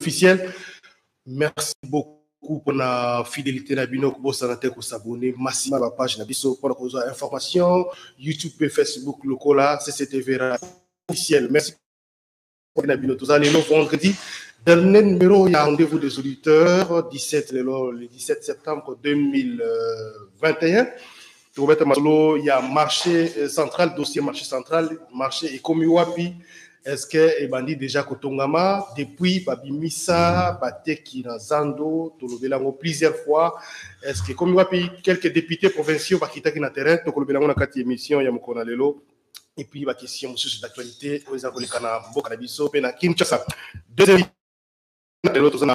officiel merci beaucoup pour la fidélité na bino kobosana te kosabone masima ba page na biso mpona kozwa information youtube mpe facebook lokola cctv officiel merci na bino toza lelo vendredi dernier numéro ya rendez-vous des auditeurs 17 lelo le 17 septembre 2021 tokobeta masolo ya marché euh, central dossier marché central marché ekomi wapi est ce que ebandi déjà kotongama depuis babimisa bateki na zando tolobela yango plusieurs fois est ce que ekomi wapi quelques députés provinciaux bakitaki na terrain tokolobela yango na kati émission ya mokolo na lelo et puis ba question mosusu d'actualité oyo eza koleka na mboka na biso mpe na kinshasa deuxième lelo toza na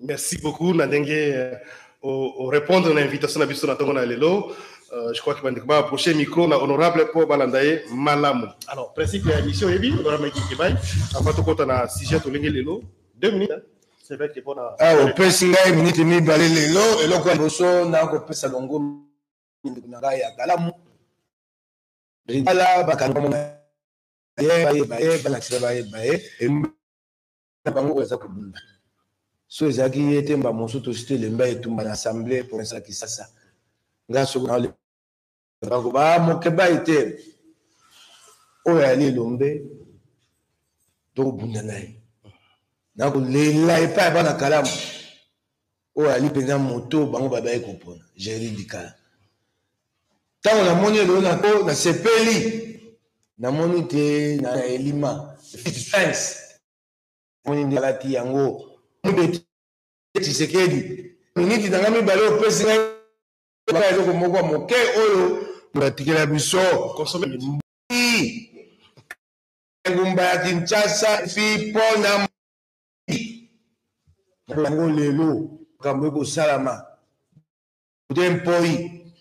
Merci beaucoup na ndenge euh, o répondre na invitation na biso na tongo na lelo. Euh, je crois que bandeko ba approcher micro na honorable po balanda ye malamu. Alors principe ya émission yebi honorable Mike Kebay avant tokota na sujet tolingi lelo 2 minutes. Hein? C'est vrai que bon na Ah opesi ngai minute mibale lelo eloko ya boso na kopesa longo ndeko na ngai ya kalamu. Ala bakanga mona ye baye baye balakisa baye baye na bango oyo aza kobunda so ezalaki ye te mba mosusu tosi tolemba etumba na assemble province ya kisasa ngai soki nakoba ah, mokebai te oyo ayali elombe tokobunda na ye nakolela epai ya bana kalamu oyo ali mpenza moto bango babaki kopona jerry bikala ntango namoni eloo nako nasepeli namoni te na elima fitfens moni nde alati yango mobeti tshisekedi miniti na ngai mibale opesi ngai eloko moko moke oyo batikela biso engumba ya kinshasa fi mpo na yango lelo makambo ekosalama de mpoi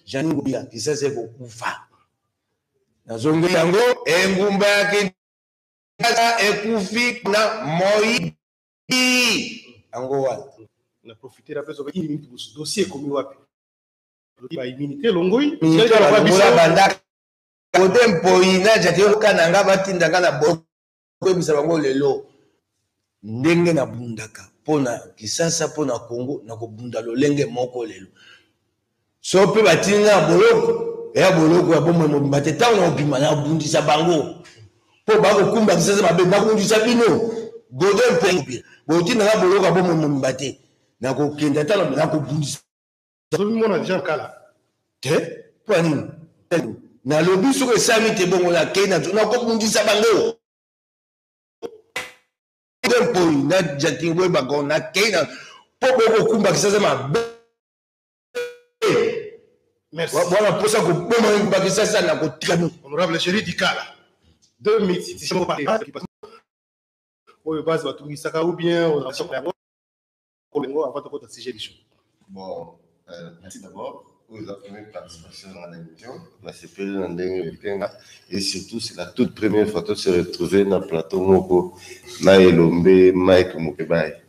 janine ngobila kisasa ekokufa nazongeli yango engumba ya kinshasa ekufi na moi yango wana na profitera mpe soki minute mosusu dossier ekomi wapi baimmunité elongoi bandaka kote mpoi na jaki oyoka na nga batinda nga na bo koyebisa bango lelo ndenge nabundaka mpo na kisasa mpo na congo nakobunda lolenge moko lelo so mpe batindi nga ya boloko ya boloko ya bomoi mobimba te ntango nakobima nakobundisa bango mpo bakokumba kisasa mabe nakobundisa bino godo mpe botinda nga boloko ya bomoi mobimba te nakokenda ntano nakobundisa azomimona deja nkala te mpo ya nini nalobi soki esami te bongo nakei na nakobundisa bango mpoi na jatin boye bango nakei na mpo bokokumbakisa za mabe wana mposa koboma kumbakisa za na kotikami honorable cheri dikala deux minutes oyo base batungisaka ou bien Olingo avant tokota sujet du jour. Bon, euh, merci d'abord. Vous avez première participation dans l'émission. La CPL dans le Kenga. Et surtout, c'est la toute première fois que se retrouver dans le plateau Moko, Maëlombe, Mike Mokebay.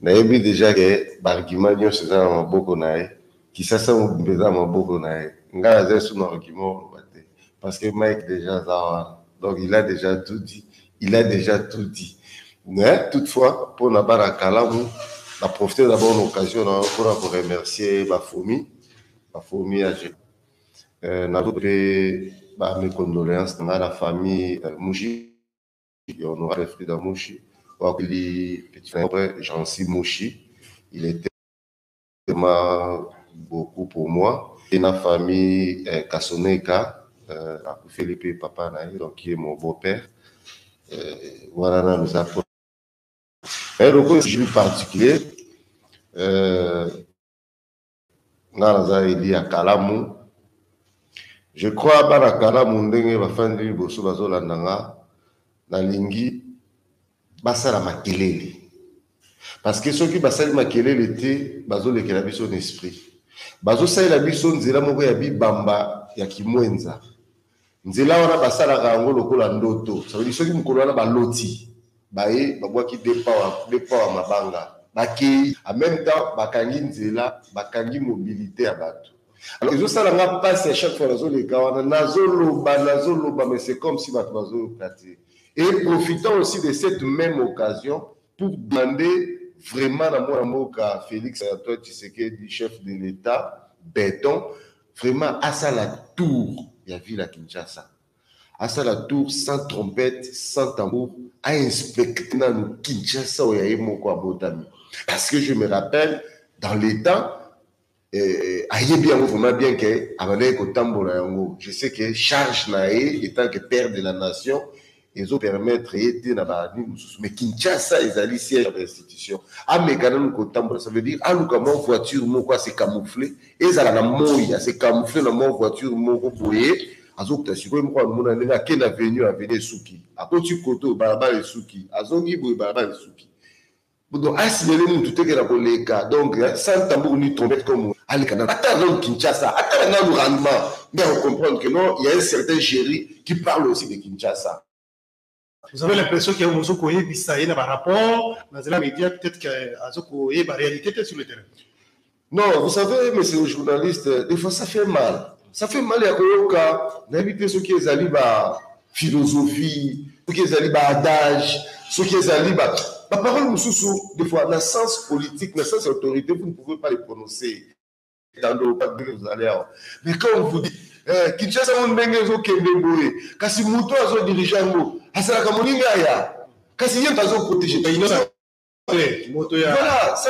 nayebi déjà ke baargument nyonso eza na maboko na ye Kisasa mobimba eza na maboko na ye. Nga naza lisusu na argument oloba te parce que Mike dejà aza wana donc il a dejà tout dit, il a dejà tout dit mais toutefois pona bana kalamu na profiter d'abord na occasion na yo pona ko remercier ba fomi ba fomi ya je euh, na pe ba mes condoléances na la famille euh, Mushi ya honorable Frida Mushi wakili petit frère Jean-Cy Mushi il était vraiment beaucoup pour moi et na famille euh, Kasoneka euh, akufeli mpe papa na ye donc ye mon beau père euh, wana nanu eza po mais lokola jour particulier euh, nga naza eli ya kalamu je crois bana kalamu ndenge bafandi liboso bazolanda nga nalingi Basala makelele. Parce que soki basali makelele te, bazolekela biso na esprit. Bazosalela biso nzela moko ya bibamba ya kimwenza. Nzela wana basalaka yango lokola ndoto. Ça veut dire soki mokolo wana baloti, baye babwaki deux power, deux power mabanga. Bakei. En même temps, bakangi nzela, bakangi mobilité ya bato. Alors, ezosala nga pasi à chaque fois nazoleka wana, nazoloba, nazoloba, mais c'est comme si bato bazoyoka te. Et profitant aussi de cette même occasion pour demander vraiment na mwana mboka Felix Antoine Tshisekedi, chef de l'Etat, beton, vraiment asala tour ya ville ya Kinshasa. Asala tour sans trompette, sans tambour, a inspecte nanu Kinshasa oyo ya ye moko abotami. Parce que je me rappelle, dans les temps, eh, ayebi yango vraiment bien ke abandaki kotambola yango je sais que charge na ye etant que père de la nation ezopermettre ye te na banini mosusu mais kinshasa ezali siège ya institution ameka nanu kotambola ça veut dire aluka mwa voiture moko ase camoufle ezala na moi ase camoufle na mwa voiture moko boye azokuta sikoyo moko amona ndenge ake na venu aveni esuki akoti koto balabala esuki azongi boye balabala esuki Budo asimele mutu te kena koleka donc hein, sans tambour ni trompette comme aleka na ata dans Kinshasa ata na nanu rendement mais on comprendre que non il y a un certain Jerry qui parle aussi de Kinshasa vous avez l'impression que ozo koyebisa ye na ba rapport na zela media peut-être que azo koyeba réalité te sur le terrain Non, vous savez, monsieur le journaliste, des fois ça fait mal. Ça fait mal ya koyoka nayebi te soki ezali ba philosophie, soki ezali ba adage, soki ezali ba ba parole mosusu des fois na sens politique, na sens autorité, vous ne pouvez pas les prononcer. Tando pas que vous allez avoir. Mais quand on vous dit eh, Kinshasa mon ndenge ezokende boye, kasi moto azo dirige yango, asalaka moninga aya. Kasi ye mpe azo protéger. Voilà, ça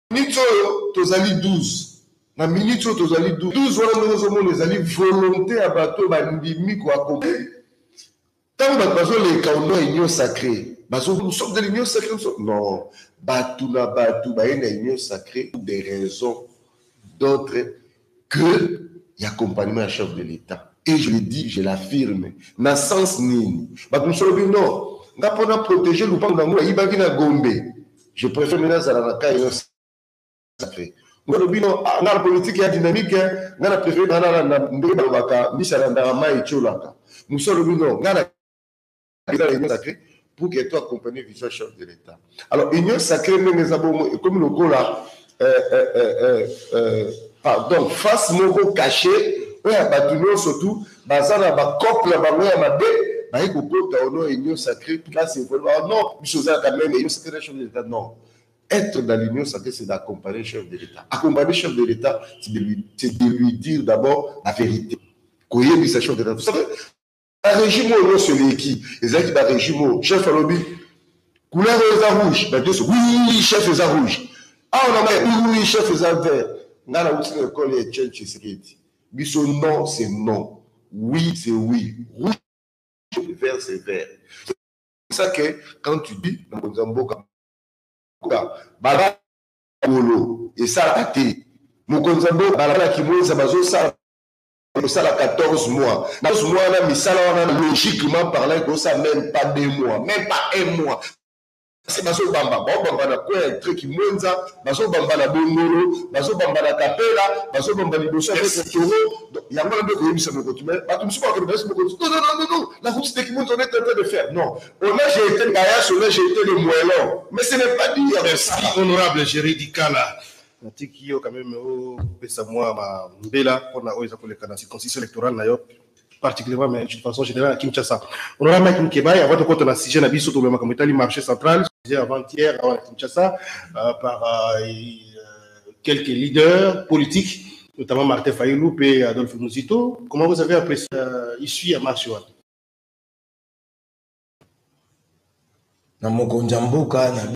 minutes oyo tozali 12 na minutes oyo tozali 12 12 wana ndenge ozomona ezali volonté ya bato oyo bandimi koakompli ntango bato bazoleka ono union sacré nous sommes de l'union sacrée non bato na bato baye na union sacrée pour des raisons d'autres que l'accompagnement du chef de l'État. Et je le dis, je l'affirme. Na sens nini. Bato mosusu balobi non. Nga mpo na protéger lopango na ngai ayibaki na Gombe. Je préfère maintenant azala na cas innocent. Nga lobi non, ah, nga politique ya dynamique, hein. nga na préfère na na ndenge balobaka mbisa na ndaka mai etiolaka. Mosusu alobi non, nga na eza réunion sacrée pour que to accompagner vision chef de l'État. Alors, union sacrée, même les abomos, et comme le gola, euh, euh, euh, euh, euh, pardon, face moko caché, oyo ya bato nyonso tu baza na bacope na bango ya mabe baye kokota ono union sacrée place ekolba oh non biso ozalaka meme union sacrée na chef de l'état non être dans l'union sacrée c'est d'accompagner chef de l'état accompagner chef de l'état c'est de, lui, de lui dire d'abord la vérité koyebisa chef de l'état barégime oyo nyonso eleki ezalaki barégime oyo chef alobi couleur oyo eza rouge bato nyonso wi chef eza rouge awa na mai wi chef eza vert ngai nauti na ekole ya etienne tshisekedi biso non c'est non oui c'est oui rouge vert c'est vert c'est ça que quand tu dis na mokonzi ya mboka bala kolo esalaka te mokonzi ya mboka balala kimweza bazosala kosala 14 mois na mois wana misala wana logiquement parlant ekosa même pas deux mois même pas un mois kasi bazobamba baobamba na coin ya tre kimwenza bazobamba na bongolo bazobamba na kapela bazobamba liboso ya mokotoro yango wana nde koyebisa mokoto me bato mosusu bakende bayesi mokoto non non non non la route de kimwenza on est en train de faire non on a jeté kayas on a jeté le moellon mais ce n'est pas dire merci honorable jeridi kala Natiki yo quand même opesa mwa ba mbela mpona oyo eza koleka na circonstance électorale na yo particulièrement mais de façon générale à Kinshasa. On aura Mike Mkebaye avant de compter la sujet na biso tolobela makambo etali marché central sujet avant-hier à Kinshasa euh, par euh, euh, quelques leaders politiques notamment Martin Fayulu et Adolphe Muzito. Comment vous avez apprécié euh, ici à marché wana? na mokonzi ya mboka na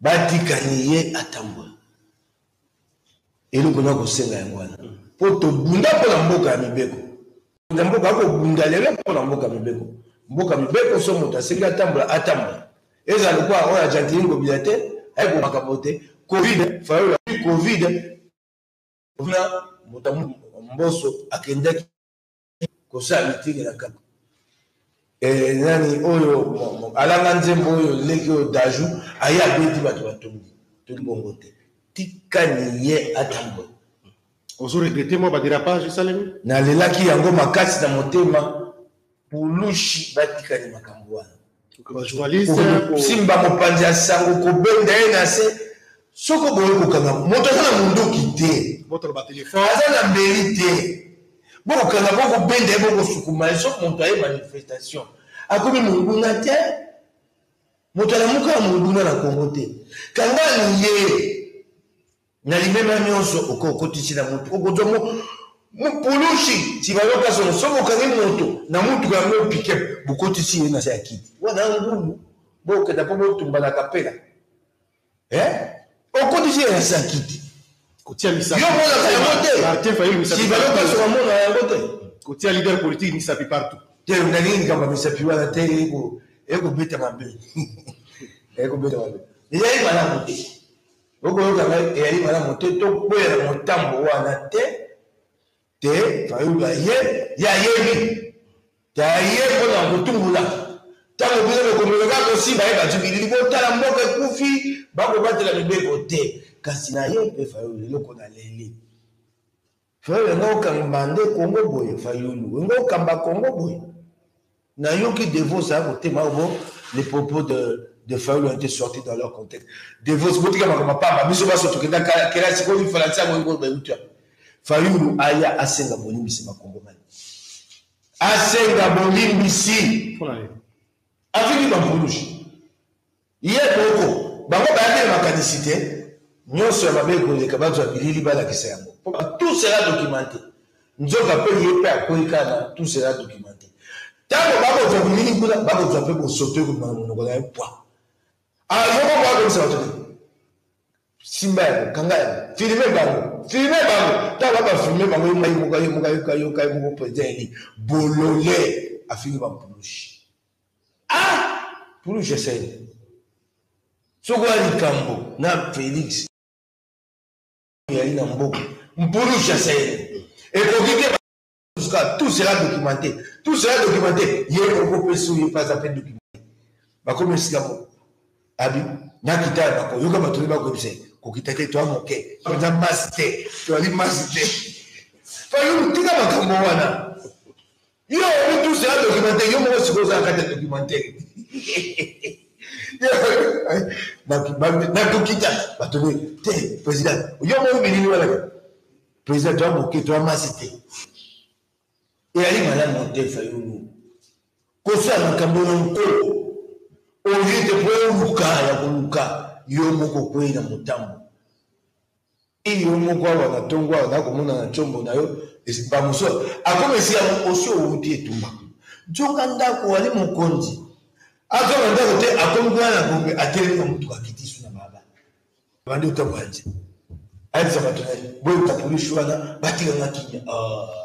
Batika ye atambola. Eloko na kosenga yango wana. Mpo tobunda mpo na mboka ya mibeko. Na mboka akobunda lelo mpo na mboka mibeko. Mboka mibeko so moto asengi atambola, atambola. Ezala lokola oyo ajantini ngobila te, ayeko makambo te. Covid, fayola Covid. Kuna moto mboso akendaki kosala mitenge na kaka eh, nani oyo alanga nzembo oyo leki oyo daju aye abeti bato batongi toki bongo te tika niye atambola ozoregrete mwa baderapage esalemi nalelaki yango makasi na motema pulushi batikani makambo wana kosimba mopanzi ya sango kobenda ye na se soki oboyi kokanga moto aza na monduki te aza na mbeli te bokokanga bokobenda ye bokosukuma ye soki moto aye manifestation akomi monguna te moto alamuka ya monguna na kongo te kangani ye Na limemya nyonso oke okotisi na moto, okozwa mo, mopulusi nsima yoka solo. Soki okangi moto na motuka yango pike, bokotisi ye na se ya kiti, wana ngulu bokenda mpo botumba na kapela eh? okotisi ye na se ya kiti kotia misapi yo monaka yango te Martin Fayulu misapi nsima yoka solo amona yango te kotia leader politique misapi partout te nalingi likambo ya misapi wana te ekobeta mabe ekobeta mabe ezali malamu te Bokoyoka ngai eyali malamu te tokwea na motambo wana te te fayulu aye ye ayebi te aye mpo na kotumbola ntango bino bokomeka kaka kosimba ye bajibilili botala mboka ekufi bakobatela mibeko te kasi na ye mpe fayulu eloko na leli Frère wenga okamba nde Congo boye fayulu wenga okamba Congo boye na yoki devos a kotema bo les propos de de fayulu ont été sortis dans leur contexte devos botika makambo pamba biso baso tokenda kelasi ko lifalansi yango yango bayuta fayulu aya asenga bolimbisi bakongomani asenga bolimbisi afiki bampulushi Ye moko. Bango bayaki na makanisi te nionso ya mabe ekoleka, bazua bilili balakisa yango po tout sera documente. Nzoka pe ye pe akweyi kaka na tout sera documente. Tango bakozua bilili kuna, bakozua pe bosoto ekobima na monoko na ye pwa. Alors yo bongo okoyebisa batu nini? Simba yango, kanga yango, filmer bango, filmer bango. Tango ba ba filmer bango, ye moko ayoka, yoka, yoka ye moko president eli, bolole, afingi ba mpulushi. Ah! Pulu Gisèle. Soko ya likambo na Felix. Yali na mboka. Mpulu Gisèle. Ekoki te jusqu'à tout sera documenté tout sera documenté ye moko mpe soki mpe aza mpe documenté bakomi esika moko abi nakita ya bako yoka bato oyo bakoyebisa kokita te toa moke aza masi te toali masi te fayulu tika makambo wana Yo oyebi tous ya documentaire yo moko sikoyo ozala kati ya documentaire nakokita bato ne te président yo moko bilili wana président toya moke toya masi te eyali malamu te fayulu kosala makambo na nkolo olie te mpo oluka ya koluka yo moko kwei na motambo Tii yo moko awa na tongo awa na komona na chombo na yo ba mosusu akoma esika yango osi owuti etumba nzoka ndako wali mokonzi azo na ndako te akomi kuna na gombe atelemi na motuka akiti su na baba bandi otambo ya nze ayebisa bato na ye boyebisa polisi wana batikanga kimia ah.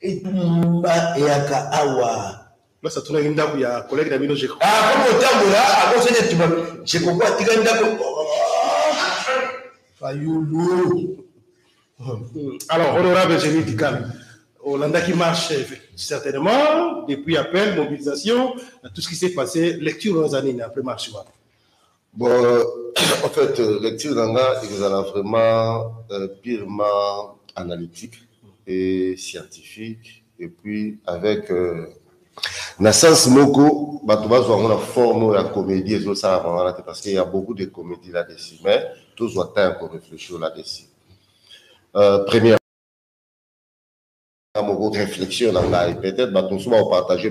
etumba eyaka awa place atunaki ndako ya kolege na bino jeko akomi kotambola akosani etumba jeko ko atika ndako fayulu hmm. alors honorable génie dikala olandaki marche certainement depuis appel mobilisation tout ce qui s'est passé lecture oza nini après marche wana Bon, en fait, euh, lecture na nga ekozala vraiment euh, purement analytique et scientifique et puis avec euh, na sens moko bato bazwa yango na forme oyo ya comédie ezosalaka wana te parce qu'il y a beaucoup de comédie là dessus mais tozwa temps ya koreflechir là dessus euh, première moko réflexion na ngai peut-être bato mosusu bakopartage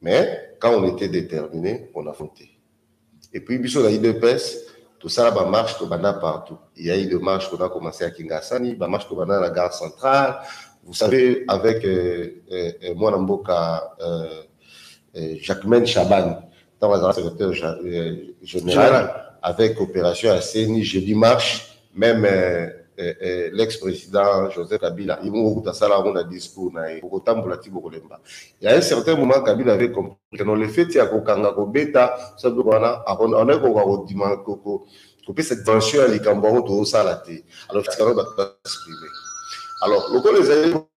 Mais quand on etait determine on affrontait et puis biso na udps tosala ba marche tobanda partout il y a eu de marche qu'on a commencé à Kingasani ba marche tobanda na gare centrale vous savez avec euh, euh, euh, mwana mboka euh, euh, Jacquemaine Chaban ntango azalaka secrétaire ja- euh, général avec opération ya CENI jeudi marche Meme eh, eh, l'ex president Joseph Kabila ye moko kutu asala yango na discours na ye, bokotambola ti bokolemba. Ya un certain moment Kabila avait compris que non le fait ya kokanga kobeta sa biloko wana akonaki kokoka kodima kopesa dimension ya likambo yango tozosala te, alors tika bato ba exprimer. Alors lokola ezali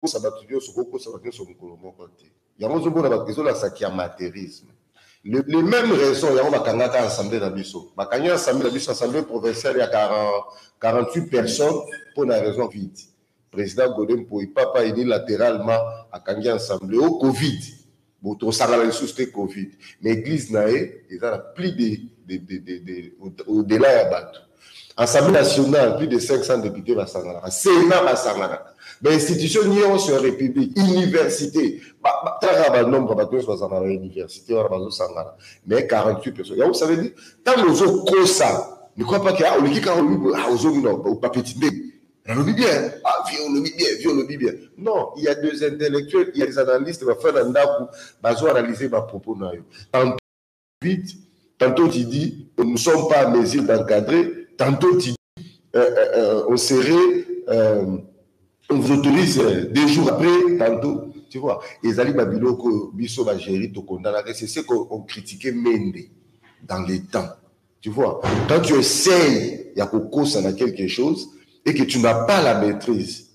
kosa bato nyonso kokosa bato nyonso mokolo moko te yango ozomona ezolakisa kiamaterisme le, le même raison yango bakangaka assemblée na biso bakangi assemblée na biso assemblée provinciale ya 40, 48 personnes mpo na raison vide président gode mpoi papa unilatéralement akangi assemblée o covid Bon tosangana lisusu te covid mais eglise na ye eza na plus de, de, de, de, de au delà ya bato assemblée nationale plus de 500 députés basanganaka sénat basanganaka bainstitution nyonso ya république université taka banombre bato nyonso bazala na université wana bazosangana mais 48 personnes yango ça veut dire ntango ozokosa ne crois pas que ah, oleki 48 ah, ozongi na bapeti ndenge nalobi bien ah vie olobi bien vie olobi bien non il y a des intellectuels il y a des analystes bafai na ndako bazo analyser ba propos na yo tantôt vite tantôt tu dis nous ne sommes pas à mesure d'encadrer tantôt tu dis euh, euh, euh, on serait euh, on vous autorise euh, deux jours après tantôt tu vois ezali ba biloko biso ba gérer tokondanaka c'est ce qu'on critiquait mende dans les temps Tu vois, quand tu essayes ya kokosa na quelque chose et que tu n'as pas la maîtrise,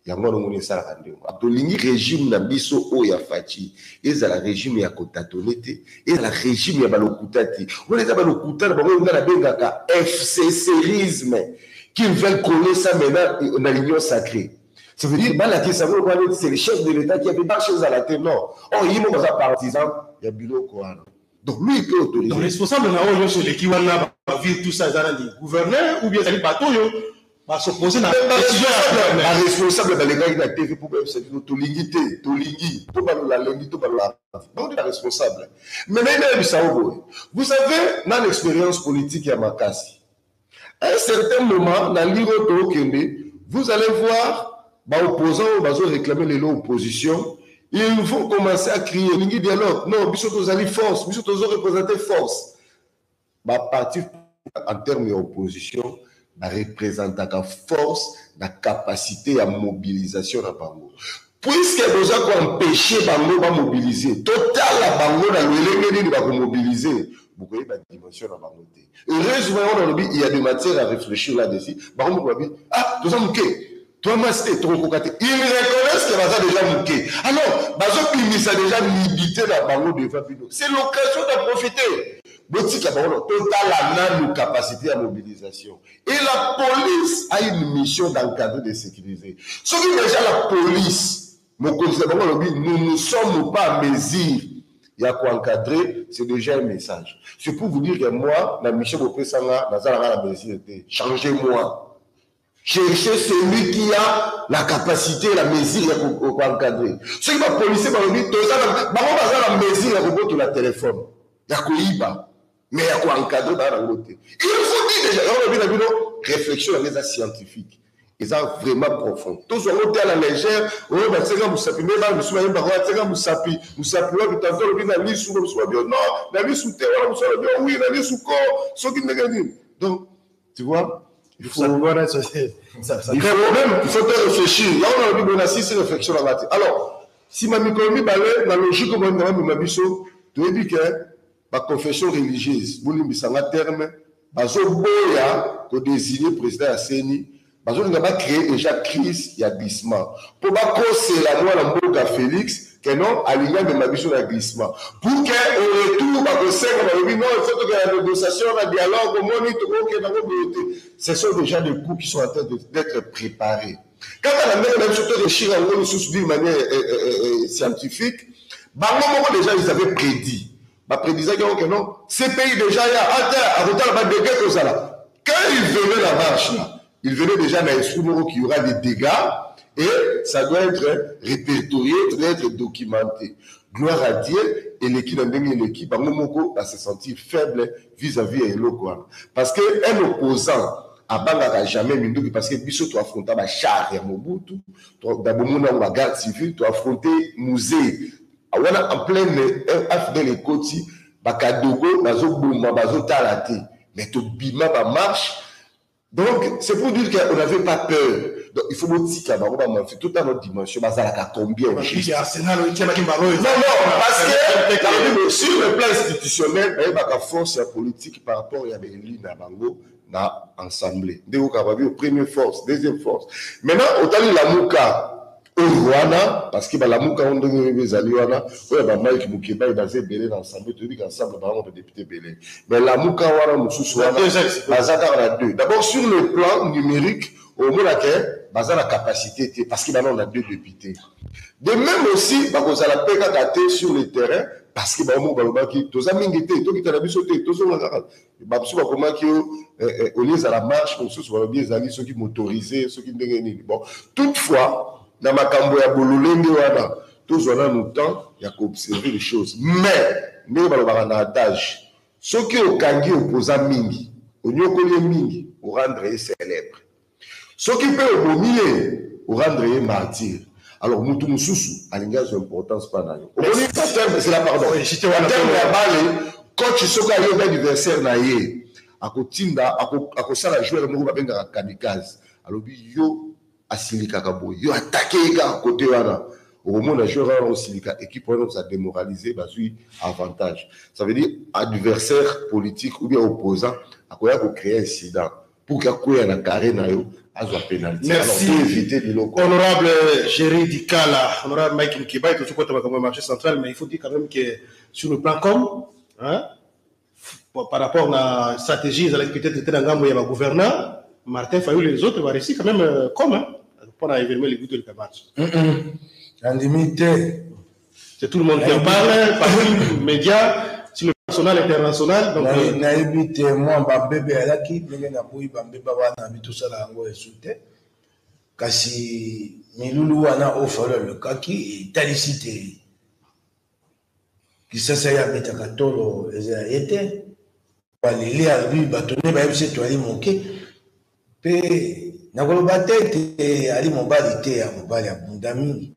yango wana omoni esalaka ndenge wana. Tolingi regime na biso oyo ya Fatshi ezala regime ya kotatone te, ezala regime ya balokuta te. Wana eza balokuta na bango oyo ngai nabengaka FCCisme qu'ils veulent coller ça maintenant na l'union sacrée. Ça veut dire balakisa yango lokola neti c'est le chef de l'État qui a dit marche ezala te non. Or yimo baza partisan ya biloko wana. Donc lui il peut autoriser. Donc responsable na oyo nyonso eleki wana ba ville tout ça eza nani gouverneur ou bien ezali bato oyo ba s'opposer na décision ya gouverneur. Ba responsable balekaki na TV mpo bayebisa bino tolingi te tolingi to balola lundi to balola bango nde ba responsable. Mais nayebi nayebisa yo boye vous savez nani expérience politique ya makasi À un certain moment, na ligue oyo tokende, vous allez voir ba opposants oyo bazo réclamer lelo opposition, ils vont commencer à crier elingi dialogue, non biso tozali force, biso tozo représenter force. Ba parti en termes ya opposition ba représentaka force na capacité ya mobilisation na bango. Puisque boza ko empêcher bango ba mobiliser, totala bango na lolenge nini ba ko mobiliser, bokoyeba dimension na bango te. heureusement yango nalobi il y a de matière à réfléchir là dessus bango moko babi ah toza moke toa masi te tokokoka te il reconnaisse que baza déjà moke alors bazobimisa déjà mibite na bango devant bino c'est l'occasion de profiter botika bango totala nanu capacité ya mobilisation et la police a une mission d'encadrer de sécuriser soki déjà la police Mokonzi na bango alobi nous ne sommes pas en mesure ya ko encadrer, c'est déjà un message. C'est pour vous dire que moi, na mission bopesa nga, naza nanga na mesure te. Changez-moi. Cherchez celui qui a la capacité, la mesure ya ko ko encadrer. Soki ba policiers balobi toza na bango baza na mesure ya kobotola téléphone, ya koyiba. mais ya ko encadrer bana na ngo te il faut dire déjà na lobi na bino réflexion yango eza scientifique eza vraiment profond tozwa ngo te à la légère oyo batyaka mosapi nde bana mosusu bayembaka oyo atyaka mosapi mosapi wapi tanto alobi na lisu mosusu babi yo non na lisu te wana mosusu alobi yo wi na lisu ko soki ndenge nini donc tu vois il faut Mosapi wana ça, c'est- ça, ça, il faut même il faut te réfléchir yango na lobi boye na sisi réflexion na ngai te alors nsima mikolo mibale na logique oyo nanga mema biso toyebi ke ba confession religieuse bolimbisa nga terme bazoboya kodesigne president ya seni bazolinga bacree deja crise ya glissement mpo bakosela mwana mboka félix ke non alingi amema biso na glissement pour ke au retour bakosenga balobi non il faut tokenda na négociation na dialogue omoni tokokenda ngo boye te ce sont déjà des coups qui sont en train d'être préparés Kaka na ndenge na biso to rechir yango lisusu d'une manière eh, eh, eh, eh, scientifique, bango moko déjà ils avaient prédit. Ba prédisaki yango que non, ces pays déjà ya ata akotala ba dégâts kozala. Quand ils venaient la marche là, ils venaient déjà na esprit moko qu'il y aura des dégâts et ça doit être répertorié, ça doit être documenté. Gloire à Dieu, eleki na ndenge eleki bango moko ba se sentir faible vis à vis ya eloko wana parce que un opposant abangaka jamais minduki parce que biso to affronta ba char ya mobutu da bomona yango ba garde civile to affronte musée wana en pleine afdel ekoti bakadogo bazoboma bazotala te mais tobima bamarche Donc c'est pour dire qu'on n'avait pas peur. Donc il faut botika bango ba manfi tout à notre dimension bazalaka combien au juste. Non non parce que sur le plan institutionnel bayebaka force ya politique par rapport ya baeli na bango na assemblée. Ndeko Kababi au premier force, deuxième force. Maintenant otali Lamuka oyo wana parce que balamuka yango ndenge oyebi ezali wana oyo ba mike mukebayi baza ebele na ensemble toyebi ka ensemble bango ba député ebele mais lamuka wana mosusu wana baza kaka na deux d'abord sur le plan numérique omona ke baza na capacité te parce que banao na deux député de même aussi bakozala mpe kaka te sur le terrain parce que bango moko balobaki toza mingi te tokita na biso te tozonga kaka bamosusu bakomaki yo eh, eh, olie ezala marche mosusu balobi ezali soki motorise soki ndenge nini bon toutefois na makambo ya bololenge wana tozwa nanu temps ya koobserve les choses mais ndenge balobaka na adage soki okangi opoza mingi onyokoli ye mingi orendre ye célèbre Soki pe obomi ye, o rendre ye martyr. Alors mutu mususu alingi azwa importance pa nayo. Omoni ba terme zela pardon. Ba terme ya balle coach soki ayobi adversaire na ye ako tinda ako sala joueur moko ba bengaka kamikaze alobi yo asilikaka boye yo attaque ye kaka cote wana oko mona joueur wana ako silika equipe wana eko sa demoraliser bazui avantage ça veut dire adversaire politique ou bien opposant akoya ko creer incident pour que akweya na carré na yo azwa penalty merci pour éviter biloko honorable Jerry Dikala honorable Mike Mkibai tozo kota makambo ya marché central mais il faut dire quand même que sur le plan com hein par rapport na stratégie ezalaki peut-être te na ngambo ya ba gouverneur Martin Fayulu et les autres va réussir quand même euh, comme hein, pour na événement les goûts de la marche. Mm -mm. Andimi te C'est tout le monde qui en parle, partout, médias, sur le national, international. Donc, euh, nayebi te mwa bambebe eyalaki ndenge naboyi bambeba wana bi tosala yango esu te kasi milulu wana oyo falo alukaki etalisi te kisasa ye abetaka tolo eza ye te baleli albi bato nde bayebisi etu ali moke mpe nakoloba te ete ali mobali te ya mobali abunda mingi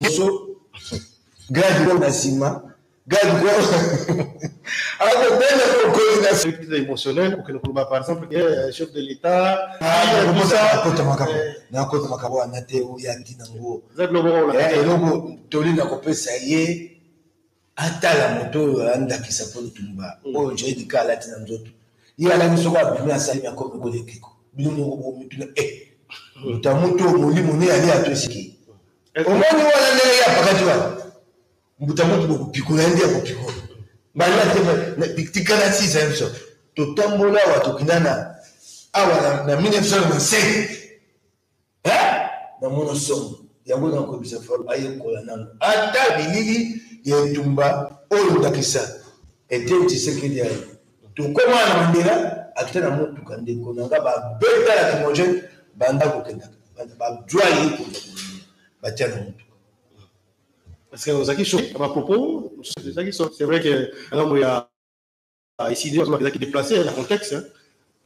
biso grade moko na nsima grade moko akobenda kokoli na service émotionnel kokende koloba par exemple ke eh, chef de l'état nakota makambo wana te oya ntina ngo eloko toli na kopesa ye atala moto oyo aya ndakisa mpo litumba mm. oyo jai dika alati na nzoto ye alaki soko abimi asali na komi koli ekeko bino moko bomituna e eh, moto ya moto molimo ne ali ato esiki omoni wana ndenge ye apakati wana mbuta moto bokopikola ye nde akopikola bana te tikala sisa biso totambola awa tokindana awa na 1995 eh namona somo yango nakoyebisa falo ayekola nano ata bilili ya etumba oyo ndakisa eteni tshisekedi aye tokoma na mandela akita na motuka ndeko na nga babeta na kimogene banda kokendaka bajwa ye kenda batya na motuka parce que ozalaki choqué na bapropos ozalaki c'est vrai que ngambo ya Ah, ici, il a qui déplacé le contexte, hein,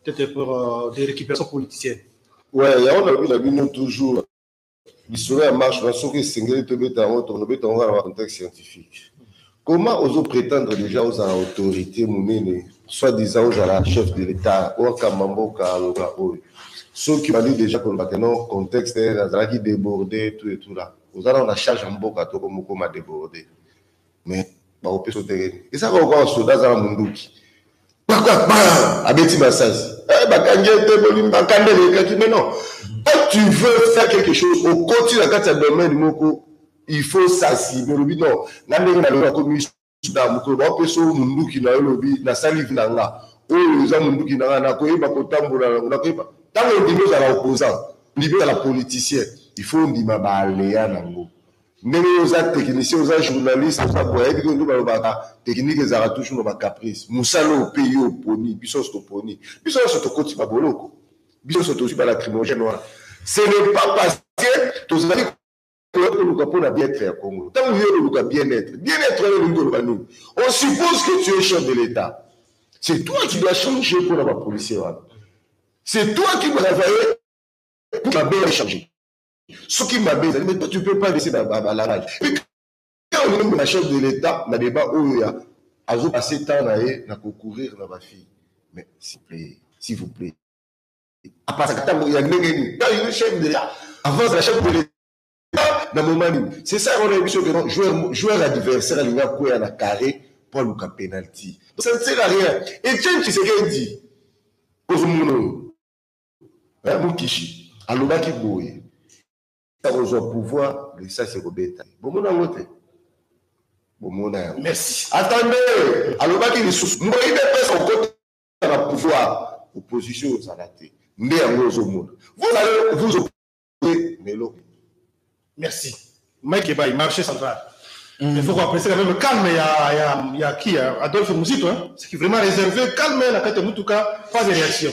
peut-être pour euh, des récupérations politiciennes. Ouais, il y a un la bino toujours. L'histoire ya marche na soki esengeli tobeta yango tokobeta yango na contexte scientifique comment ozo prétendre déjà ozala autorité monene soit disant ozala chef de l'état wakamba mboka aloba oyo soki obandi déjà koloba ke non contexte nazalaki débordé tout et tout là oza nao na charge ya mboka toko mokoma débordé mais bakopesa otelemi eza kaka lokola soda aza na monduki abeti masasi eh, bakangi ete bolimbaka nde elekaki mais non quand tu veux faire quelque chose okoti na kati ya domaine moko il faut sasibe olobi non nga ndenge na lelo akomi suda mokolo baopesa oyo monduki na yo olobi nasali vi na nga oyo eza monduki na nga nakoyeba kotambola nango nakoyeba ntango ondimi ozala opposant ondimi ozala politicien il faut ondima baalea nango Ndenge yo oza technicien oza journaliste oza boye ayebi ke nde balobaka technique ezalaka toujours na ba caprice mosala oyo mpe yo oponi biso nyonso toponi biso nyonso tokoti ba boloko biso nyonso tozwi ba lacrymogène wana ce n'est pas parce que tozali koya koluka mpo na bien-être ya Congo ntango yo oluka bien-être bien-être wana elingi koloba nini on suppose que tu es chef de l'État c'est toi qui dois changer mpo na ba policier wana c'est toi qui dois travailler pour que la bien changer soki mabe ezali mais toi tu peux pas laisser balarage pe ka olingi omema chef de l'état na débat oyo ya azo passe temps na ye na kocourir na bafille mais s'il plaît s'il vous plaît apasaka ntango ya ndenge nini ka olingi chef de l'état avance na chef de l'état na moment nini c'est ça wana biso ke joueur joueur adversaire alingi akwea na carré mpo aluka penalty ça ne sert à rien etienne tshisekedi ozomona oyo Eh, Mukishi alobaki boye akozwa pouvoir lisasi ekobeta bomona yango te bomona yango merci atande alobaki lisusu mboi depesa okota na pouvoir opposition ozala te nde yango ozomona vous allez vous opposer na eloko merci mike ebai marché central Mm. Il faut qu'on apprécie quand même calme, il y a, y a, y a qui Adolphe Mouzito, hein, ce qui est vraiment réservé, calme, la carte Moutouka, pas de réaction.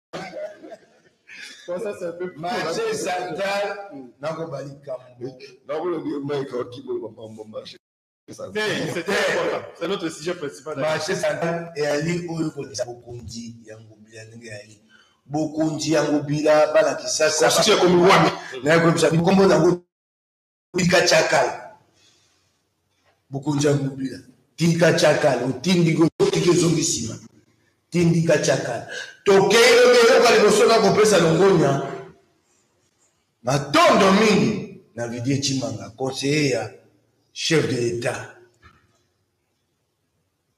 marché central nakoba likambo marché central eyali oyo kolisa bokonzi ya ngobila ndenge eyali bokonzi ya ngobila bana kisasa ekomi wani nayekoyebisa bikombo nango tika chakala bokonzi ya mobila tika chakala otindi otiki ezongi nsima tindika chakala tokei lobi eyoka liboso na kopesa longonya matondo mingi na vidie chimanga conseiller ya chef de l'etat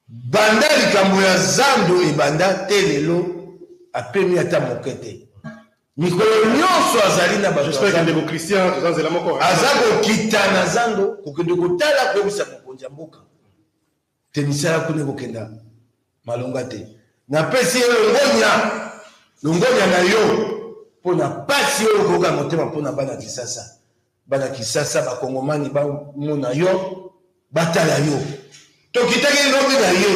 Banda likambo ya zando ebanda tee lelo apemi ata moke te. Mikolo nyonso azali na bato ya zando. Aza kokita na zando kokende kotala koyebisa mokonzi ya mboka te misala kuna ekokenda malonga te. Napesi ye longonya, longonya na yo mpo na mpasi oyo okoyoka na motema mpo na bana Kisasa. bana kisasa bakongomani bamona yo batala yo tokitaki lobi na ye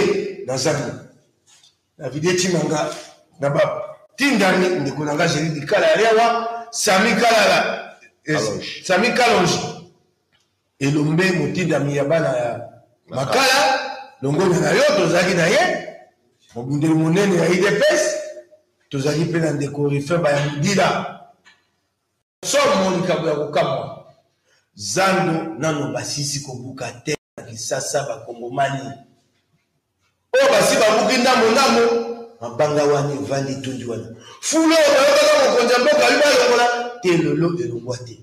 na zando na video etima nga na batindami ndeko na nga jeli likala ya lewa sami kalala eh, sami kalonji elombe motindami ya bana ya makala longonya na yo tozalaki na ye mobundeli monene ya idps tozalaki mpe na ndeko rifin bayamudila Somo likambo ya kokamwa. Zando nano basisi kobuka te na Kisasa bakongomani oyo basi babuki ndambo ndambo mabanga wani evandi tondi wana fulu oyo bayokaka mokonzi ya mboka ayi balongola te lelo elongwa te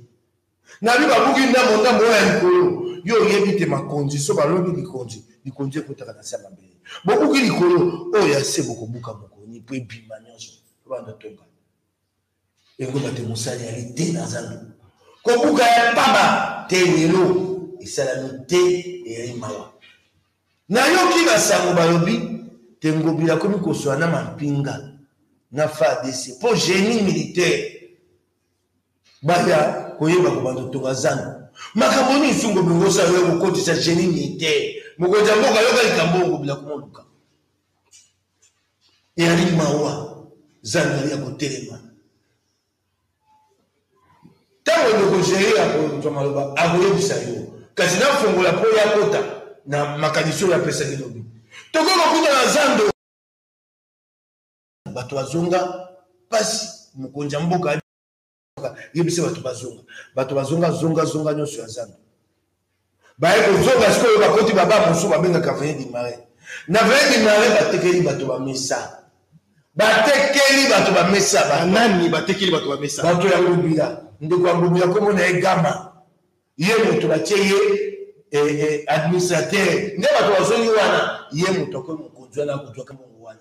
nabi babuki ndambo ndambo oyo ya likolo yo oyebi te makonzi so balongi likonzi likonzi ekotaka na se ya mabele bobuki likolo oyo ya se bokobuka mokoni mpo ebima nyonso banda tonga Ekoba te mosali ali te na zando. Kobuka ya mpaba te lelo esalami te eyali mawa. Nayoki basango balobi te Ngobila akomi koswa na mampinga na FARDC mpo génie militaire baya koyeba kobanda kotonga zando makambo nini nsungo bilongosa yo kokotisa genie militaire mokonzi ya mboka yoka likambo oyo kobila komoluka Eyali mawa zangani ya kotelema. Ntango ndeko Jair akozwa maloba, akoyebisa yo, kasi nafongola mpo ya kota na makanisi oyo apesaki lobi. Tokoki kokuta na zando bato azonga mpasi mokonzi ya mboka yebisa bato bazonga bato bazonga zonga zonga nyonso ya zando baye kozonga sikoyo bakoti baba mosusu babengaka veye dimare na veye dimare batekeli bato bamesa batekeli bato bamesa banani batekeli bato bamesa bato ya ngobila ndeko ya ngobila nkombo na ye gama ye moto batye ye eh, eh, administrateur nde bato bazongi wana ye moto akomi mokonzi wana akozwaka mongo wana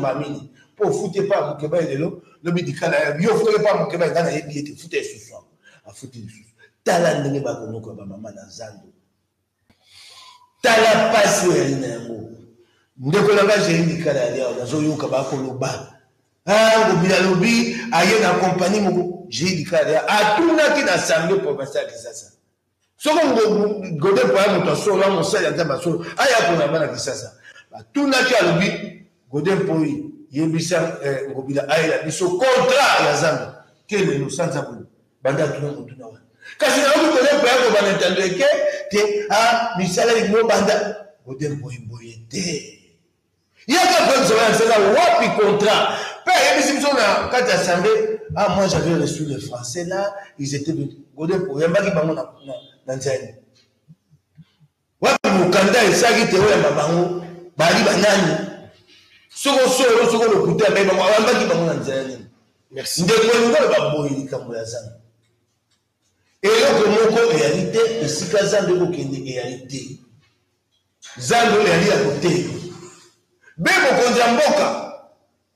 mamini mpo ofuti epai ya mokeba ye lelo lobi likala ya yo ofutaki epai ya mokeba engai nayebi ete futa esusu yango afuti lisusu tala ndenge bakonoko ya bamama na zando tala mpasi oyo yali na yango ndeko na ngai jei likala ya liawa nazoyoka bakoloba ngobi ah, alobi aye na kompani moko jei likala ya atunaki na asamble provincial ya kisasa soko gode mpo aya moto ya solo ya mosali ya nzambe ya solo aya mpona bana kisasa batunaki alobi gode mpoi yebisa eh, ngobila ayela biso kontra ya zando te lelo sanza boye banda atuna motuna wana kasi nayoki gode mpo ya kobanda ntando eke te a ah, misala lingo banda gode mpoimboye te Yaka Bref Zoya Nzela wapi contrat Pe ayebisi biso na kati ya assemblée Ah moi j'avais reçu les français là ils étaient de Godin po yambaki bango na na nzela Wapi mukanda esaki te oyamba bango bali banani Soko solo soko lokuta mais bango ayambaki bango na nzela nini Merci Ndeko Ngolo baboyi likambo ya zana Eloko moko eyali te esika zando ekokende eyali te. Zando eyali ya kotelema. Be mokonzi ya mboka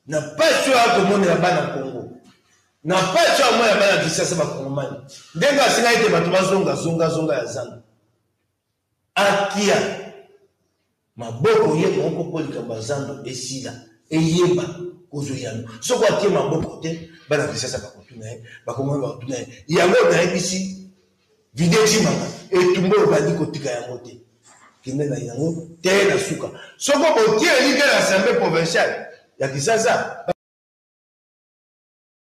na mpasi oyo akomonela bana Kongo na mpasi oyo amonela bana Kisasa bakongomani ndenge asengaki ete bato bazonga zongazonga ya zando Akia maboko ye moko mpo likambo ya zando esila eyeba kozwa eyano soko atie maboko te bana kisasa bakotuna ye bakongoli bakotuna ye yango nayebisi vide cimanga etumba oyo bandi kotika yango te kende na yango te na suka soko botie elike na assemblée provinciale ya kisasa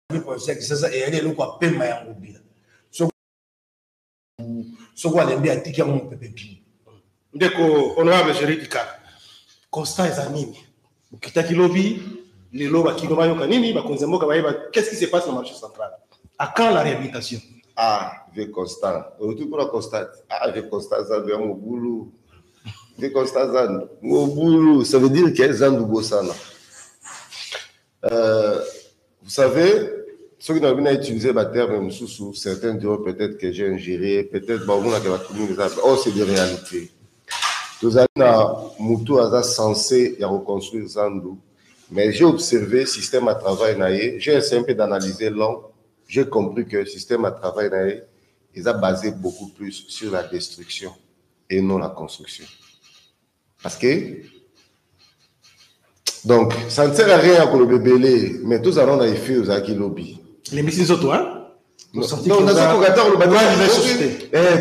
provinciale ya kisasa eyali eloko ya pema ya ngobila soko alembi atiki yango mopepe bimi ndeko honorable jeridika constat eza nini bokitaki lobi lelo bakino bayoka nini bakonzi ya mboka bayeba qu'est-ce qui se passe na marché central à quand la réhabilitation ah vieux constant oluti kuna constant ah vieux constant zandu ya mobulu vieux constant zandu mobulu ça veut dire que zandu bosana Euh, vous savez, soki nalobi na utiliser baterme mosusu certains diront peut-être que j'ai ingéré peut-être baomonaka bato mingi eza oh c'est des réalités tozali na motu aza censé ya koconstruire zandu mais j'ai observé système à travail na ye j'ai essayé un peu d'analyser long j'ai compris que système à travail na ye eza basé beaucoup plus sur la destruction et non la construction Parce que donc ça ne sert à rien koloba ebele mais tozala na efe ozalaki lobi lembisi nzoto hein nazokoka ata koloba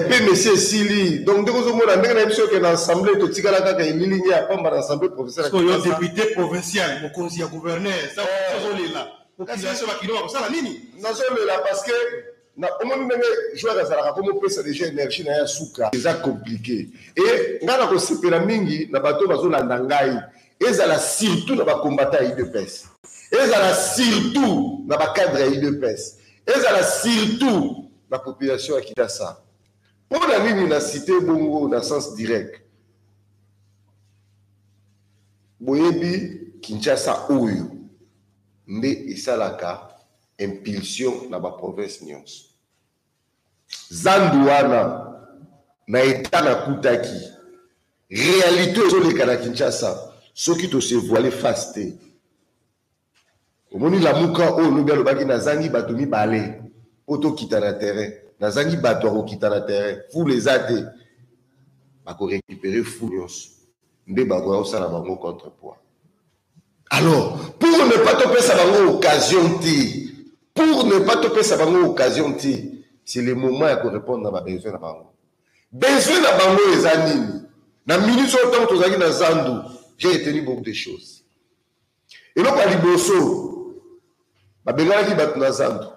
pe mesi esili donc ndenge ozomona ndenge na biso oke na assemblée totikala kaka elilingi ya pamba na assemblée professeuryo député provincial mokonzi ya gouverneur ozolela kasi biso bakino bakosala nini nazolela parce que Na omoni ndenge joueur azalaka ko mopesa deja energie na ye ya suka. Eza complique et nga na kosepela mingi na bato bazolanda ngai ezala surtout na ba combattants ya udps ezala surtout na ba cadre ya udps ezala surtout na population ya Kidasa. Mpo na nini na cite bongo na sens direct? Boyebi Kinshasa oyo nde esalaka impulsion na ba province nionso. Zandu wana na etat nakutaki realite ezoleka na Kinshasa soki to se voiler face te. Omoni lamuka oyo lobi alobaki nazangi bato mibale mpo tokita na terrain, nazangi bato ya kokita na terrain, foule eza te, bako recuperer foule nionso nde bakoya kosala bango contre poids. Alors, pour ne pas te faire bango occasion ti, pour ne pas te faire bango occasion ti, c'est le moment ya ko répondre na ba besoin na bango. Besoin na bango eza nini? Na minute oyo ntango tozalaki na zandu, j'ai retenu beaucoup de choses. Eloko ya liboso, babenganaki bato na zandu.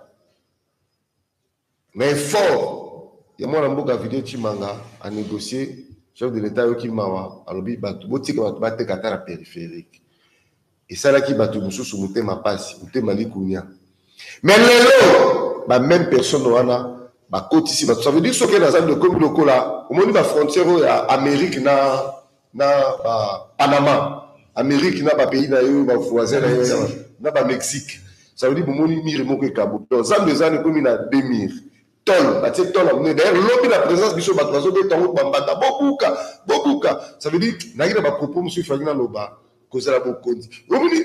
Na effort ya mwana mboka Video Tshimanga a negocier, chef de l'Etat ayoki mawa, alobi batu botika batu bateka ata na peripherique. Esalaki batu mosusu motema pasi, motema likunia. Mais lelo ba meme personne wana bakotisi batu, ça veut dire soki nazali okomi lokola omoni ba frontières oyo ya Amerique na na ba Panama Amerique na ba pays na yo ba voisins na yo na ba Mexique ça veut dire bomoni mire moko ekabuki donc zambe ezana ekomi na deux mire tol batie tol ya monene d'ailleurs lobi na présence biso bato bazobeta yango bambanda bobuka bobuka ça veut dire nayaki na bapropos mosusu efaki naloba kozala bokonzi omoni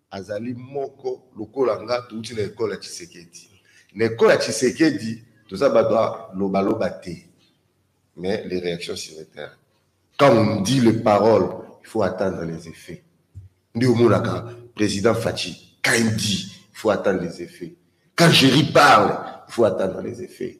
Azali moko lokola nga touti na ecole ya tshisekedi na ecole ya tshisekedi toza bato ya loba loba te mais les réactions sur le terrain quand on dit les paroles il faut attendre les effets nde omonaka président faci quand il dit il faut attendre les effets quand jerry parle il faut attendre les effets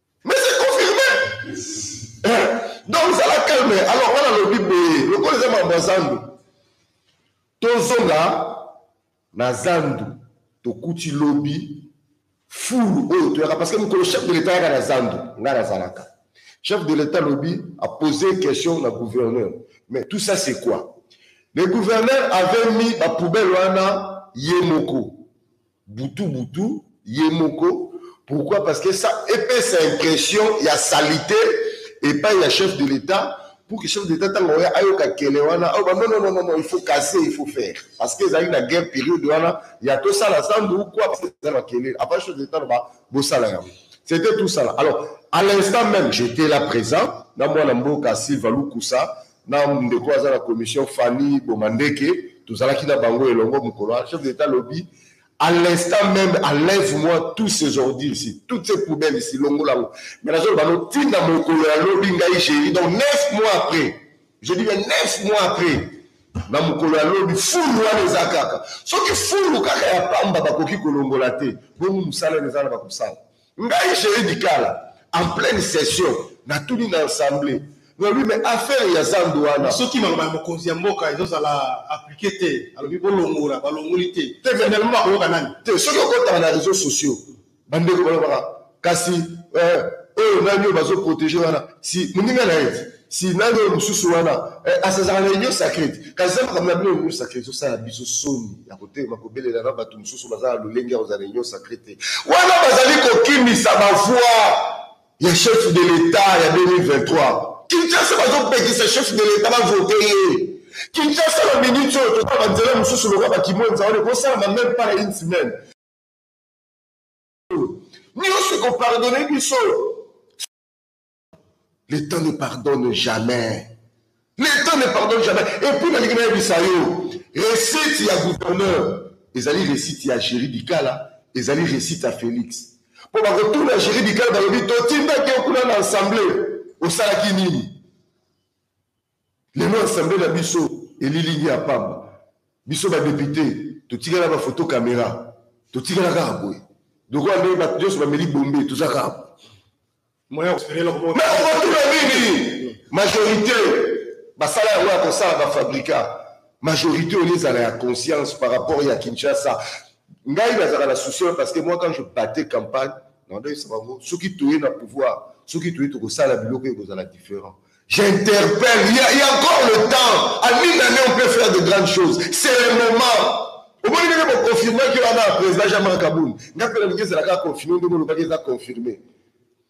Mais c'est confirmé. Eh, donc zala calme. Alors wana lobi boye, lokola eza mambo ya zandu. Tozonga na zandu tokuti lobi fulu oyo toyaka parce que mokolo chef de l'etat yaka na zandu ngai nazalaka chef de l'etat lobi a posé question na gouverneur mais tout ça c'est quoi le gouverneur avait mis bapoubelle wana ye moko butu butu ye moko pourquoi parce que ça epesa impression ya salite epai ya chef de l'etat pour que chef d'etat ntango oya ayoka kele wana ayoba non non non non il faut casser il faut faire parce que ezalaki na guerre période wana ya tosala sandu ou quoi parce que eza makelele avant chef d'etat loba bosala yango c'était tout ça là alors à l'instant même j'étais là présent na mwana mboka silva lukusa na ndeko aza na commission Fanny Bomandeke tozalaki na bango elongo mokolo wana chef d'etat alobi à l'instant même enlève-moi tous ces ordures ici toutes ces poubelles ici longola yango mais nazoloba no ntina mokolo ya lobi ngai géri donc neuf mois après je dis bien neuf mois après na mokolo ya lobi fulu wana eza kaka soki fulu kaka ya pamba bakoki kolongola te bongo mosala eza na bakosala Ngai Jerry Dikala en pleine session natuni na ensemble nalobi mais affaire ya zandu wana. Soki maloba ya mokonzi ya mboka ezo zala applique te alobi bolongola balongoli te finalement bakoyoka nani? Te soki okotaka na reseaux sociaux ba ndeko balobaka kasi eh, oyo nani oyo bazo proteger wana si muninga na ye. si nani oyo mosusu wana eh, asazaka na union sacrete kasi eza makambo na bino union sacrete osala biso soni ya kotelema kobelela na bato mosusu baza na lolenge ya kozala na union sacrete wana bazali kokimisa bavoi ya chef de l'etat ya 2023 kinshasa bazopekisa chef de l'etat bavote ye kinshasa na minute oyo toza banzela mosusu lokola bakimwenza wana ekosalama meme pas na une semaine nyonso ekopardone biso le temps ne pardonne jamais le temps ne pardonne jamais et puis nalingi nayebisa yo recette ya gouverneur ezali recette ya géri dikala ezali recette ya félix mpo bakotuna géri dikala balobi totindaki yo kuna na assemblée osalaki nini Lelo assemblee na biso elilingi ya pamba. Biso ba deputes totikala ba photo camera. Totikala kaka boye. Lokola ndenge bato nyonso bameli bombe toza kaka boye. Mais okotuna nini? Majorite basala yango ya kosala ba fabrica. Majorite olie ezala ya conscience par rapport ya Kinshasa. Ngai nazalaka na souci wana parce que moi quand je battais campagne nalobaki na bango soki toye na pouvoir soki toye tokosala biloko ekozala different. J'interpelle. Il y, a, il y a encore le temps. À une année, on peut faire de grandes choses. C'est le moment. omoni ndenge boconfirmaki wana ya président jean marc kabund nga mpe nalingi ezalaka confirme ndenge olobaki eza confirme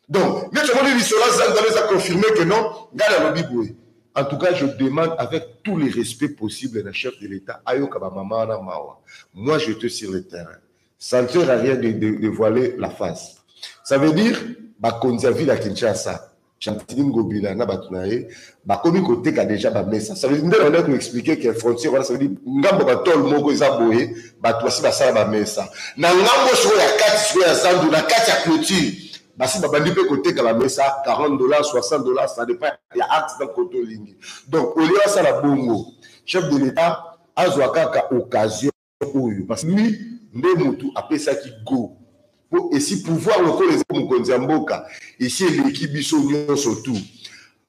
donc neti omoni lisolo azangana eza confirme que non ngai nalobi boye en tout cas je demande avec tous les respects possibles na chef de l'état ayoka bamama wana mawa moi je te sur le terrain ça ne sert à rien de, de, de voiler la face ça veut dire bakonzi ya ville ya kinshasa Gentini Ngobila na bato na ye bakomi koteka deja bamesa nde banda koexplike ke frontière wana savedi ngambo batole moko eza boye bato basi basala bamesa na ngambo sikoyo ya kati sikoyo ya zandu na kati ya clôture basi babandi mpe koteka bamesa 40 dollars 60 dollars ça dépend ya acte na koto olingi donc olie basala bongo chef de l'état azwa kaka occasion oyo parce que lui nde mutu apesaki go po esi pouvoir lokola eza mokonzi ya mboka esi eleki biso nyonso tu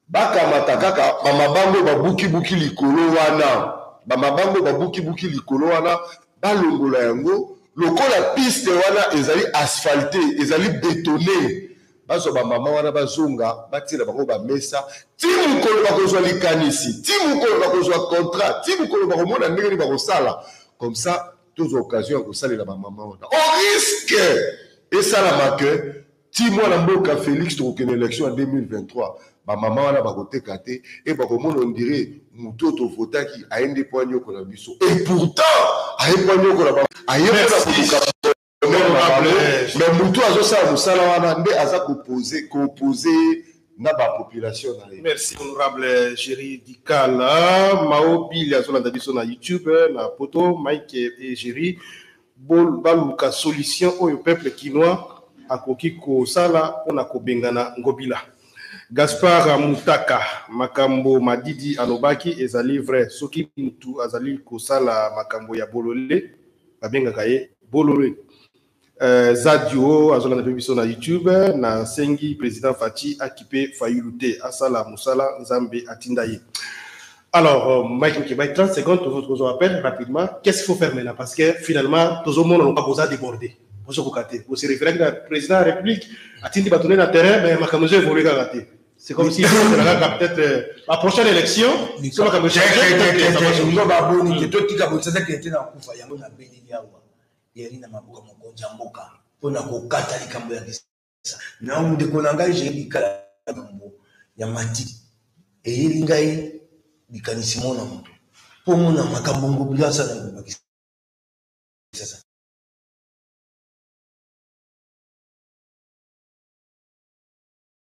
bakamata kaka bamabango babukibuki likolo wana bamabango babukibuki likolo wana balongola yango lokola piste wana ezali asphalte ezali betone Bazwa bamama wana bazonga batiela bango bamesa ti mokolo bakozwa likanisi ti mokolo bakozwa contrat ti mokolo bakomona ndenge nini bakosala comme ça tozwa occasion ya kosalela bamama wana o oh, risque esalama ke ti mwana mboka félix tokokende élection ya 2023 bamama wana bakoteka te e bakomona ondire motu oyo tovotaki aye nde mpo anyokola biso e pourtant aye mpo anyokola aye mpo na koluka me mutu azosala mosala wana nde aza kopose kopose na bapopulation na ye merci honorable géri dikala mao bili azolanda biso na youtube na poto mike e géri baluka solution oyo peuple kinois akoki kosala mpona kobengana ngobila gaspar mutaka makambo madidi alobaki ezali vrai soki mutu azali kosala makambo ya bolole babengaka ye Bolole. Euh, Zadio azolanda mpe biso na YouTube na sengi président Fatshi akipe Fayulu te asala musala Nzambe atinda ye. Alors euh, Mike Mukebay 30 secondes tozo tozo appel rapidement qu'est-ce qu'il faut faire maintenant parce que finalement tozo mona loka boza débordé bozo kokate bosi référé na président de la République atindi bato na terrain mais makambo ezo évoluer kaka te. C'est comme si ezalaka peut-être euh, la prochaine élection so makambo echangezo baboni te totika botisasa kende te na kufa yango na beleli awa eyali na maboko mokonzi ya mboka mpo na kokata likambo ya kisa na ndeko na ngai jeyi likala likambo ya mati eyeli ngai likanisi mo na moto mpo mona makambo ngobila asala ngobakisa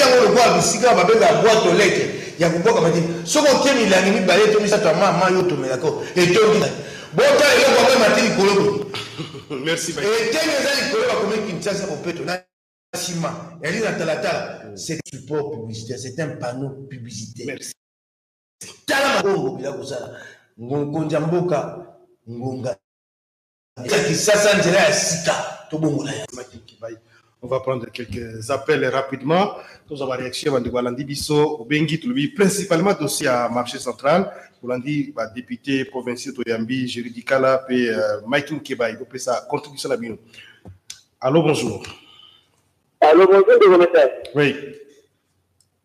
yango lokola bisika babenga bwato leke ya kobwaka mati soki otie milangi mibale to misato ya ma ma yo otomelaka etondi bota eloko yango emati likolo eteni eza likolo bakomi kinshasa bopeto na nsima yali na talatala c'est support publicitaire c'est un panneau publicitaire tala mabongo bila kozala mokonzi ya mboka ngonga ya kisasa nzela ya sika tobongola ya On va prendre quelques appels rapidement. Nous avons réaction à Ndoualandi Bisso, Bengi, Tulubi, principalement dossier à marché central. Oulandi, bah, député provincial Toyambi, Juridicala, puis euh, Mike Nkeba, il peut sa contribution à la Allô, bonjour. Allô, bonjour, de Oui.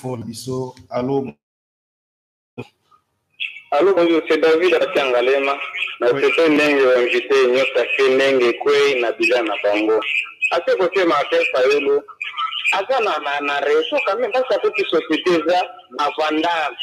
fort biso alo alo bonjour c'est david akangalema na sese ndenge invité nyota ke ndenge ekwei na bila na bango ase kotema ate fayulu aza na na na reseau quand même parce que société eza bavandage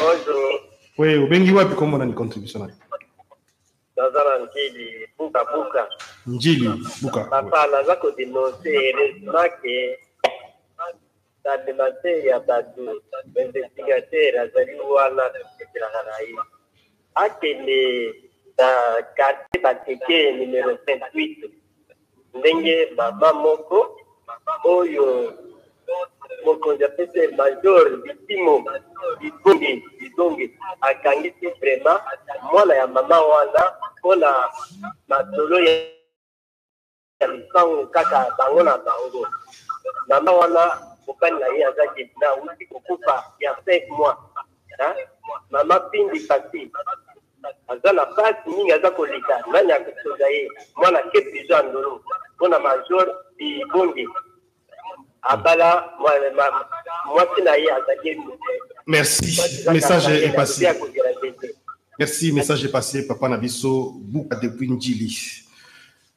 Bonjour. Oui, obengi wapi kombo nani contribution na yo? Naza na Njili buka buka. Njili buka. Papa naza ko denoncer heureusement que tandemase ya bato investigateur azali wana tosekelaka na ye akende na quartier bateke numero 28 ndenge mama moko oyo mokonzi apesi ye major bitimo bibongi bibongi akangisi vrema mwana ya mama wana mpo na masolo ya lopango kaka bango na bango mama wana mobali na ye aza debina auti kokufa ya 5 mois mama pindi pasi aza na pasi mingi aza koleka nani akosoda ye mwana ke prizo ya ndolo mpo na major ibonge abala mwasi na ye azali merci message epasi merci message epasi papa na biso buka depuis njili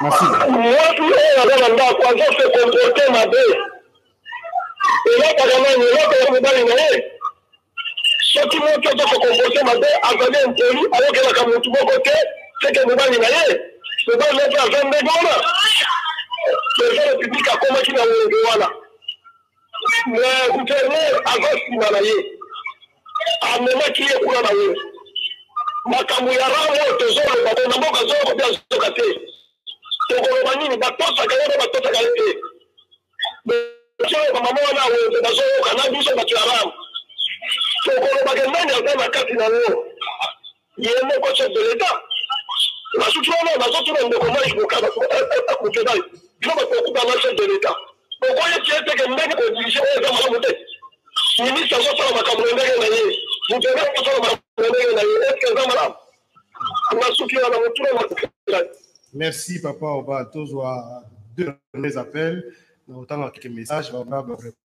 Mwasi oyo aza na ndako azo se comporte mabe, elakaka nani? Elakaka mobali na ye. Soki moto azo se comporte mabe, azali impoli, ayokelaka motu moko te, seke mobali na ye. Mobali na ye mpe aza ndenge wana. President Republique akomaki na wenge wana, mais gouverneur aza nsima na ye. amemaki ye kuna na wenze makambo ya rang oyo tozoloba bo na mboka zoko mpe azoka te tokoloba nini batosaka ye mpe batosaka ye te oyo bamama wana ya wenze bazoyoka na biso bato ya rang tokolobaka nani aza na kati na yango Yemoko chef de l'etat basuki wana bazotuna ndeko mai bokaba akokebali bino bato bakubanga chef de l'etat okoye tie teke ndenge kodirige oyo eza malamu te ministre azosala makambo na ndenge na ye mutene akosala makambo na ndenge na ye eske eza malamu basuki wana motuna makelai merci papa oba tozwa deux mes appels na otanga keke message bana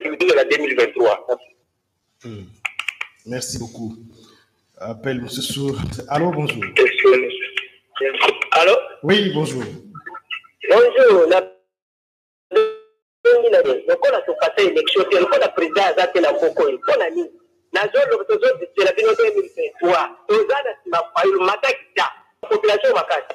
Culture ya 2023. Hmm. Merci beaucoup. Appel Moussou. Allô, bonjour. Allô Oui, bonjour. Bonjour. La... lokola topasa élection te lokola président aza te na mboko oyo mpo na nini nazoloba tozodisela bino 2023 toza na nsima fayulu matakita population makasi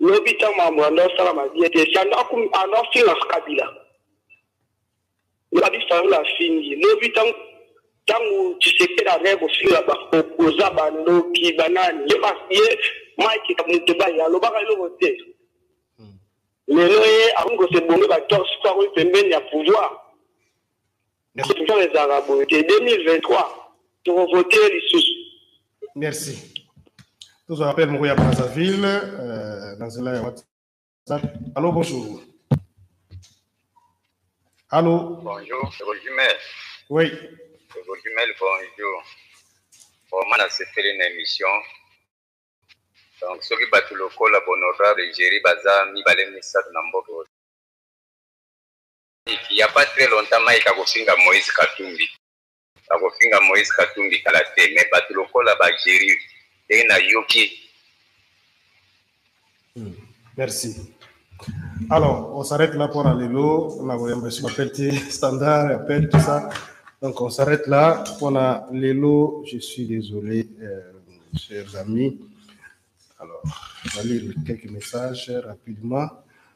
Lobi tango makambo yando asalama bien te, sando ando afinga kabila lobi fayulu afingi lobi tango tango tshisekedi azali kofinga baopoza bandoki banani ye ye mike moto baye alobaka eloko te hmm. lelo ye akomi kosebonge batorse po akomi pembeni ya pouvoir Deception ezalaka boye te 2023 tokovote lisusu. Merci. Tozwa appel moko ya Brazzaville euh, na nzela ya WhatsApp. Allô, bonjour. Allô. Bonjour, Rosimel. Oui. Rosimel, bonjour. Vraiment nasepeli na émission. Donc soki bato lokola Bonorable Jerry baza mibale misato na mboka il y a pas très longtemps Mike akofinga Moïse Katumbi akofinga Moïse Katumbi kala te mais bato lokola ba Jerry ndenge nayoki hmm, merci alors on s'arrête là pour lelo na koyamba esu bapel te standard appel tout ça donc on s'arrête là pour na lelo je suis désolé euh, chers amis alors on va lire quelques messages rapidement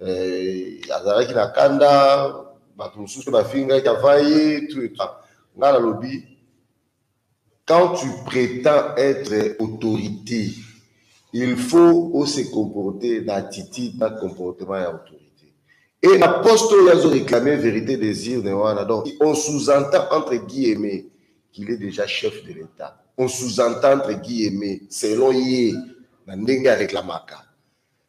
eh, azalaki na kanda bato mosusu mpe bafingaki ava ye ngai nalobi quand tu prétends être autorité il faut ose comporter na attitude na comportement ya autorité et na poste oyo azo réclamer vérité des urnes wana donc on sous-entend entre guillemets qu'il est déjà chef de l'état on sous-entend entre guillemets selon ye na ndenge areklamaka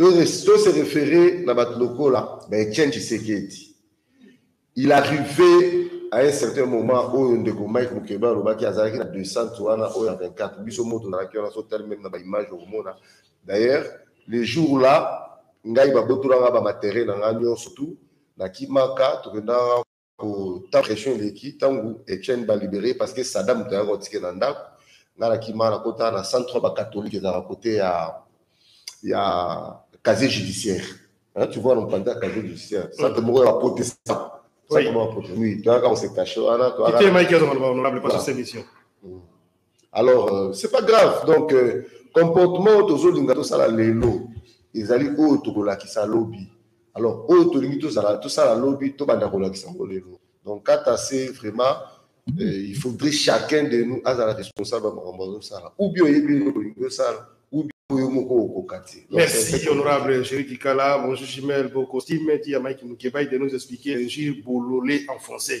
To se referer na bato lokola ba Etienne Tshisekedi. Il arrive à un certain moment oyo ndeko Mike Mukebe alobaki azalaki na descente wana oyo ya 24 biso moto nazalaki wana so tali meme na ba image okomona d'ailleurs le jour là ngai babotolanga ba matériel na ngai nyonso tout na kimaka tokendaka ta pression eleki ntango etienne balibere parce que sada moto ayaka otike na ndako ngai nakima nakota na centre oyo bacatholique ezalaka kote ya ya casier judiciaire tu vois nompanza ya casier judiciaire centre moko ya baprotestant centre moko ya protestant oui toyaka kose cache wana toyaka mike azonga loba honorable paso semission alors euh, c'est pas grave donc euh, comportement oyo tozolinga tosala lelo ezali oyo tokolakisa lobi alors oyo tolingi tozala tosala lobi tobanda kolakisa yango lelo donc kata se vraiment euh, il faudrait chacun de nous azala responsable ya makambo azosala ou bien oyebi eloko olingi osala ou bien oyo moko okoka te Donc, Merci, c'est- honorable Jerry Kikala. Bonjour, Chimel, beau costume. Dit à Mike Mukebaï de nous expliquer un jeu bololé en français.